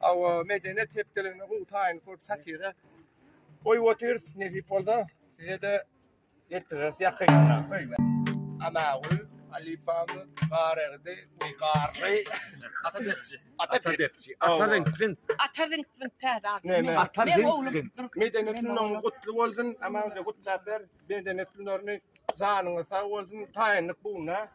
Hawa, medeniýet hepdeligine gowy taýynlyk bolup satira goýup otyrys. Nesip bolsa, size-de ýetiriris ýakynda. Anagül, halypamyz, Garagidi we Garry. Ata depçi. Ata depçi. Ata ziňk-ziňk. Ata ziňk-ziňk täze ady. Näme? Ata ziňk-ziňk. Medeniýet günüň gutly bolsun. Aman-da gutlap ber. Medeniýet günlerini janyňyz sag bolsun. Taýynlyk bugunda.